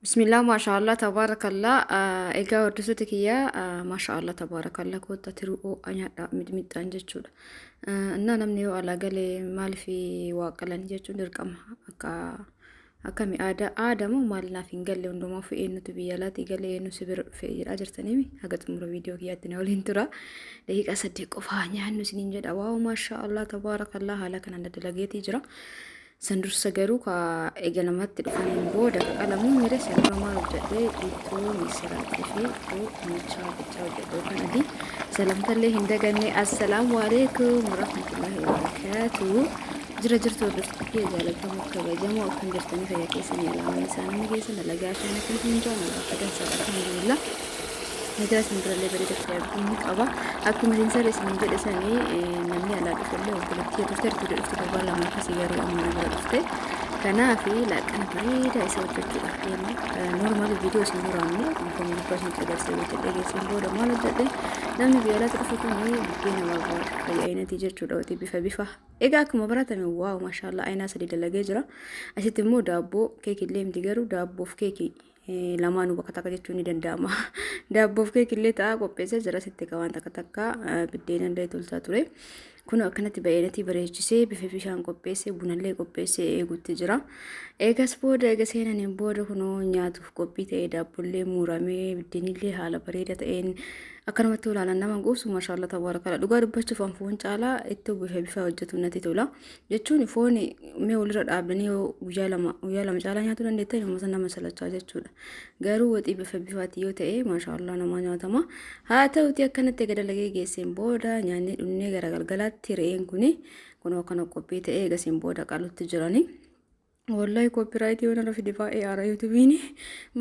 Bismillah maashaallah tabaarakallaa egaa hordoftoota kiyyaa maashaallah tabaarakallaa kotta tiruu oo'a nyaadha midmixxaan jechuudha. Innaa namni yoo alaa galee maaliif waa qalan jechuun dirqama akka akkami aadaa aadaa moo maal naaf hin galle hundumaa ofii eenyutu biyya alaatii galee eenyu si bira dhufee jedhaa jirtanii haga xumura viidiyoo kiyyaatti na waliin tura. Daqiiqaa saddeet qofaa nyaannu isiniin jedha waaw maashaallah tabaarakallaa haala kanaan dalageetii jira. San dursa garuu ka eegalamatti dhufaniin booda ka qalamu mire san dura maal hojjadhe ittoo misiraachi fi ittoo dinnichaa qichaa hojjadhe yookaan adii salamtallee hin daganne assalaamu alaikum warahmatullahi wabarakaatu jira jirtu hordoftoota kiyya jaalatamoo kabajamoo akkam jirtanii fayyaa keessanii alaamanni isaa namni keessa dalagaa shaanatiin hundaa nagaa fayyaa isaa alhamdulillah Migira isin birallee bareeda ta'e arguu ni qaba. Akkuma Zinsarri isin jedhe sani namni alaa dhufellee obboleettii turte ertuudha dhufte torbaan lama akkasii garuu amma na bira dhufte. Kanaaf laaqana bareedaa isa hojjechuudhaaf deema. Normaali viidiyoo isin dura ammoo wantoonni gubbaa isinitti agarsiisa hojjedhee geessan booda maal hojjedhe namni biyya alaatti dhufu kun buddeena barbaada. Ayya ayinatii jechuudha wati bifa bifa. Egaa akkuma baratame waaw maashaallah ayinaa sadii dalagee jira. Asitti immoo daabboo keekii illee miti garuu daabboof keekii lamaanuu bakka takka jechuun ni danda'ama. Daabboof keekillee ta'a qopheessee jira sitti egaa waan takka takka biddeena illee tolchaa ture. Kun akkanatti baay'inatti bareechisee bifa bishaan qopheessee bunallee qopheessee eeguutti jira. Eegas booda eega seenaniin booda kunoo nyaatuuf qophii ta'ee daabbollee muuramee biddeenillee haala bareeda ta'een akkanumatti olaalan nama quubsu mashaalla tabaarakala dhugaa dubbachuuf anfuun caalaa itti bifa bifa hojjetu natti tola. jechuun foon mee walirra dhaabdanii yoo guyyaa lama guyyaa lama caalaa nyaachuu dandeettan yommuu nama salachaa jechuudha. Garuu waxii bifa bifaati yoo ta'e maashaallah namaa nyaatama. Haa ta'uti akkanatti egaa dalagee geesseen booda nyaannee dhunnee gara galgalaatti re'een kuni kun akkana qophii ta'ee eegasiin booda qalutti jiranii. Wallahi copyright yoo narra fide baay'ee aara yuutubiin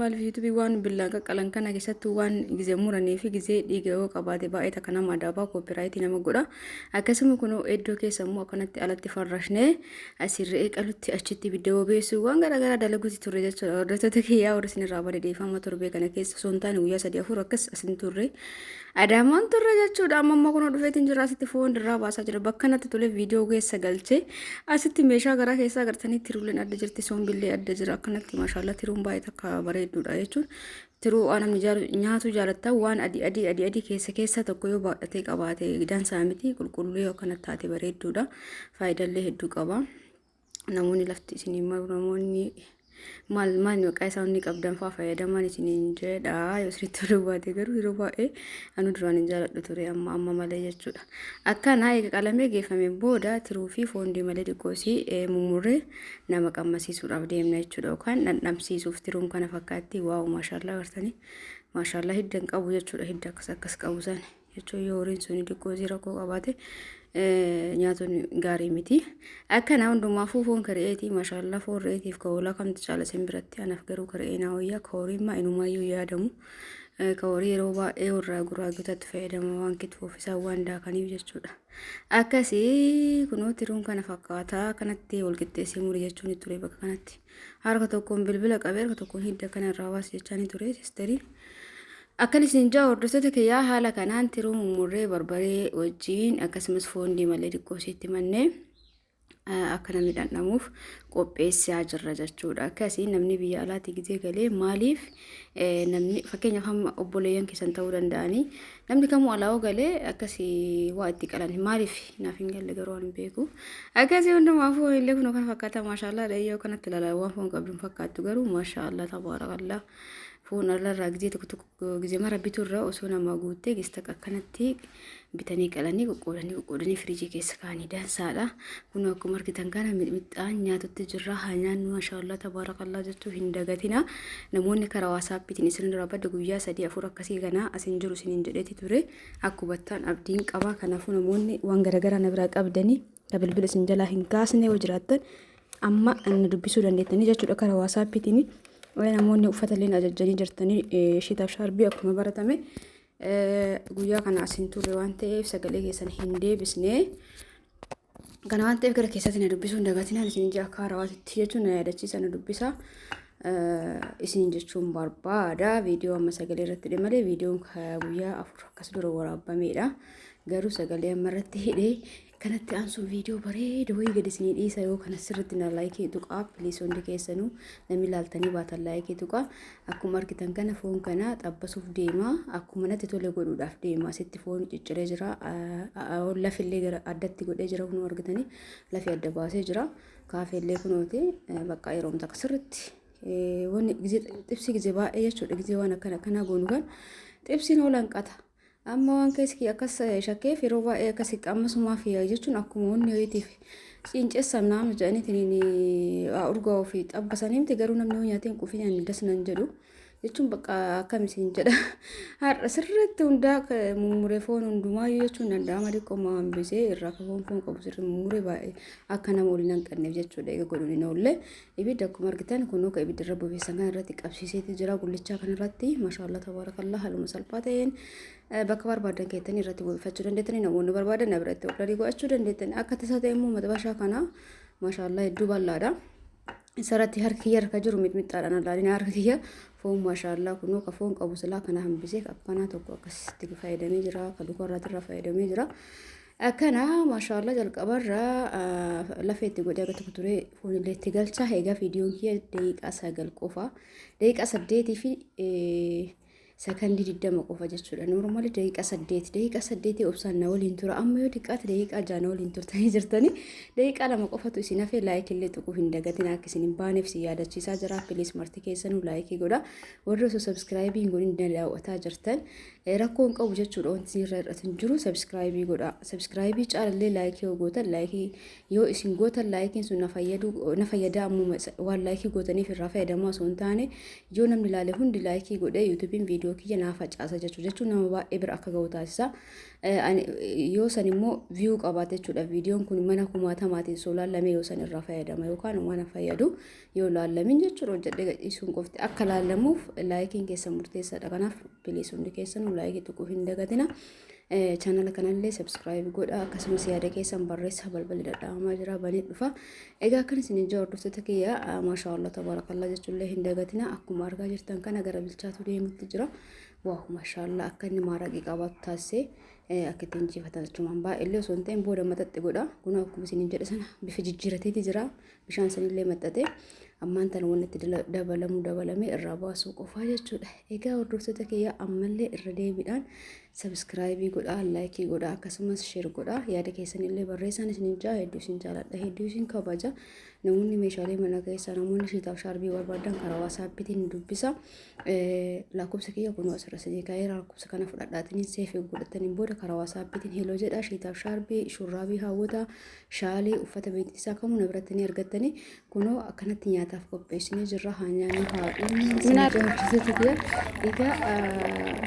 maaliif yuutubii waan billaan qaqqalan kana keessattuu waan gizee muranii fi gizee dhiiga yoo qabaate baay'ee takka nama adaabaa copyright nama godha akkasuma kunoo iddoo keessa immoo akkanatti alatti farrashnee asiin re'ee qalutti achitti ibidda bobeessuu waan garaagaraa dalaguutti turre jechuudha hordoftoota kiyyaa warri isinirraa bade deeffama torbee kana keessa osoo hin taane guyyaa sadii afur akkas asin turre Adaamaan turre jechuudha. Amma amma kunoo dhufeetiin jira asitti foon dirraa baasaa jira. Bakka natti tole viidiyoo keessa galchee asitti meeshaa garaa keessaa agartanii tiruuleen adda jirti soombillee adda jira akkanatti maashaallaa tiruun baay'ee takka bareedduudha jechuun tiruu waan namni jaalu- nyaatu jaalatta waan adii adii adii adii keessa keessa tokko yoo baadhatee qabaate dansaa miti qulqulluu yoo akkana taate bareedduudha faayidallee hedduu qaba. namoonni lafti isinii maru namoonni maal maal maqaa isaa inni qabdan fa'aa fayyadamaan isiniin jedha yoo isinitti toluu baate garuu yeroo baay'ee anu duraan hin jaaladhu ture amma amma malee jechuudha. Akkanaa eega qalamee geeffame booda tiruu fi foon diimalee xiqqoosii mummurree nama qammasiisuudhaaf deemna jechuudha yookaan dhandhamsiisuuf tiruun kana fakkaatti waawu maashaallah gartanii maashaallah hidda hin qabu jechuudha hidda akkas akkas qabu sani. jechuun yoo horiin sun diqqoosii rakkoo qabaate nyaatuun gaarii miti. Akkana hundumaafuu foon kari'eetii mashallah foon re'eetiif ka hoolaa kamtu caala sin biratti anaaf garuu kari'ee naa wayyaa ka horiin maa inumaayyuu yaadamu. Ka horii yeroo baay'ee warraa guraagotatti fayyadama waan kitfuuf isaan waan daakaniif jechuudha. Akkasii kunoo tiruun kana fakkaata kanatti walqixxeessee muri jechuun ture bakka kanatti. Harka tokkoon bilbila qabee harka tokkoon hidda kanarraa baas jechaanii ture sisteriin. Akkan isin ja'a hordoftoota kiyyaa haala kanaan tiruu mummurree barbaree wajjiin akkasumas foon diimallee xiqqoo isheetti mannee akka namni dhandhamuuf qopheessaa jirra jechuudha. Akkasii namni biyya alaatti gizee galee maaliif namni fakkeenyaaf hamma obboleeyyan keessan ta'uu danda'anii namni kamuu alaa galee akkasii waa itti qalan maaliif naaf hin galle garuu waan beeku. Akkasii hundumaa foon illee kun kan fakkaata maashaallah dhayyoo kanatti ilaalaa waan foon qabdu hin fakkaattu garuu maashaallah tabaarakallah. Foon allarraa gizee tokko tokko gizee mara biturraa osoo namaa guuttee gista akkanatti bitanii qalanii qoqqoodanii qoqqoodanii firiijii keessa kaanii dansaadha. Kun akkuma argitan kana mixmixaan nyaatutti jirra. Haa nyaannu mashaallaa tabaarakallaa jechuu hin dagatina. Namoonni karaa waasaappiitiin isinirraa badda guyyaa sadii afur akkasii kana asin jiru isiniin jedheeti ture. Akkubattaan abdiin qabaa kanaafuu namoonni waan garaagaraa na biraa qabdanii na bilbila isin jalaa hin kaasne yoo jiraattan amma na dubbisuu dandeettanii jechuudha karaa waasaappiitiin namoonni uffata illee ajajjanii jirtanii shiitaaf shaarbii akkuma baratame guyyaa kana asiin turre waan ta'eef sagalee keessan hin deebisne. Kana waan ta'eef gara keessatti na dubbisuu hin dagatinaan isin ija akka harawaatitti jechuun na yaadachiisa na dubbisa. Isin jechuun barbaada viidiyoo amma sagalee irratti hidhe malee viidiyoon guyyaa afur akkas dura waraabamedha. Garuu sagalee amma irratti hidhe Kanatti aansuun viidiyoo bareeda wayii gad isinii dhiisa yoo kana sirriitti na laayikii tuqaa piliis hundi keessanuu namni laaltanii baatan laayikii tuqaa akkuma argitan kana foon kana xabbasuuf deemaa akkuma natti tole godhuudhaaf deemaa sitti foon cicciree jira lafillee gara addatti godhee jira kunuu argitanii lafi adda baasee jira kaafeellee kunooti bakka yeroo takka sirriitti wanni xibsi gizee baay'ee jechuudha gizee waan akkana akkanaa goonu kan xibsiin oolan qata. Amma waan keessi akkas shakkeef yeroo baay'ee akkasitti amma sumaa fi jechuun akkuma wanni ho'iitiif ciincessan naama jedhaniitiin urgaa ofii xabbasanii miti garuu namni hoo nyaateen quufii nyaanni das nan jedhu jechuun bakka akkam isin jedha har'a sirriitti hundaa mummuree foon hundumaayyuu jechuun danda'ama xiqqooma hambisee irraa foon foon qabu sirri mummuree baay'ee akka nama waliin hanqanneef jechuudha eega godhuun hin oolle Ibidda akkuma argitan kunuu ka ibidda irra bobeessan kana irratti qabsiiseeti jira gullichaa kana irratti mashaallaa tabaarakallaa haaluma salphaa ta'een eh, bakka barbaadan keessanii irratti bobeeffachuu dandeettanii namoonni barbaadan na biratti ordarii godhachuu dandeettanii akka tasaa ta'e immoo madabashaa kana mashaallaa hedduu bal'aadha. Isarratti harki kiyya harka jiru mixmixaadhaan alaalina harka kiyya foon mashaallaa kunuu ka foon qabu silaa kana hambisee akkanaa tokko akkasitti fayyadamee jira ka dukarraatirra fayyadamee jira. Akkana maashaallah jalqabarra lafa itti godhee akka tokko ture foonillee itti galcha. Egaa viidiyoon kiyya daqiiqaa sagal qofa. Daqiiqaa saddeetii fi sakandii digdama qofa jechuudha. Noormaali daqiiqaa saddeet. Daqiiqaa saddeetii obsaan na waliin tura. Amma yoo xiqqaate daqiiqaa jaha na waliin turtanii jirtanii. Daqiiqaa lama qofatu isin hafee laayikillee tuquu hin dagatin akka isin hin baaneef si yaadachiisaa jira. Pilis marti keessanuu laayikii godha. Warri osoo sabskiraayibii hin godhin daawwataa jirtan Rakkoo hin qabu jechuudha wanti isinirra hir'atu hin jiru sabskraayibii godhaa sabskraayibii caalallee laayikii yoo gootan laayikii yoo isin gootan laayikiin sun na fayyadu na fayyada ammuma isa- waan laayikii gootaniif irraa fayyadamaa osoo hin taane yoo namni ilaale hundi laayikii godhee yuutuubiin viidiyoo kiyya naa facaasa jechuu jechuun nama baay'ee bira akka ga'u taasisa Eh, ani- yoo san immoo viyuu qabaate jechuudha viidiyoon kun mana kumaatamaatiin soolaan lamee yoo san irraa fayyadama yookaan waan hin fayyadu yoo laallamin jechuudha hojjedhee gadhiisuun qofti akka laallamuuf laayikiin keessan murteessaadha kanaaf piliis hundi keessanuu laayikii tuquu hin dagatina chaanala kanallee sabskiraayib godha akkasumas yaada keessan barreessaa balballi dadhabamaa jira banee dhufa egaa akkan isin ijaa hordoftoota kiyya maashaa allah tabaarakallaa jechuullee hin dagatina akkuma argaa jirtan kana gara bilchaatu deemutti jira waahu maashaa allah akka inni maaraqii qabaatu taasisee akka ittiin injifatan jechuun baay'ee illee osoo hin ta'in booda maxaxxi godha kun akkuma isin jedhe sana bifa jijjiirateeti jira Bishaan sanillee maxxatee ammaan tana wanni itti dala- dabalamu dabalamee irraa baasuu qofaa jechuudha. Egaa hordoftoota kiyya ammallee irra deebiidhaan sabiskiraayibii godhaa, laayikii godhaa akkasumas sheer godhaa. Yaada keessanillee barreessaan isiniif jaa hedduu isin jaaladha hedduu isin kabaja. Namoonni meeshaalee mana keessaa namoonni shiitaaf shaarbii barbaadan karaa waasaappiitiin nu dubbisa. Eh, Lakkoofsa kiyya kunoo asirra isinii kaa'ee lakkoofsa kana fudhadhaatiin seefii godhataniin booda karaa waasaappiitiin heloo jedhaa shiitaaf shaarbii shurraabii hawwataa Shaalii uffata beeksisaa kamuu na biratti ni argattanii kunoo akkanatti nyaataaf qopheessinee jirra haa nyaannu haa dhumnu isin ijaa hojjetetti biyya egaa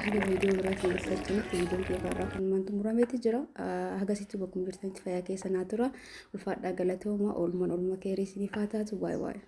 haga viidiyoo biraatiin walitti arginutti viidiyoon kiyya irraa kan mantu murameeti jira hagasitti bakkuma jirtanitti fayyaa keessa naa tura ulfaadhaa galatooma oolman oolma keerii isiniif haa taatu baay'ee baay'ee.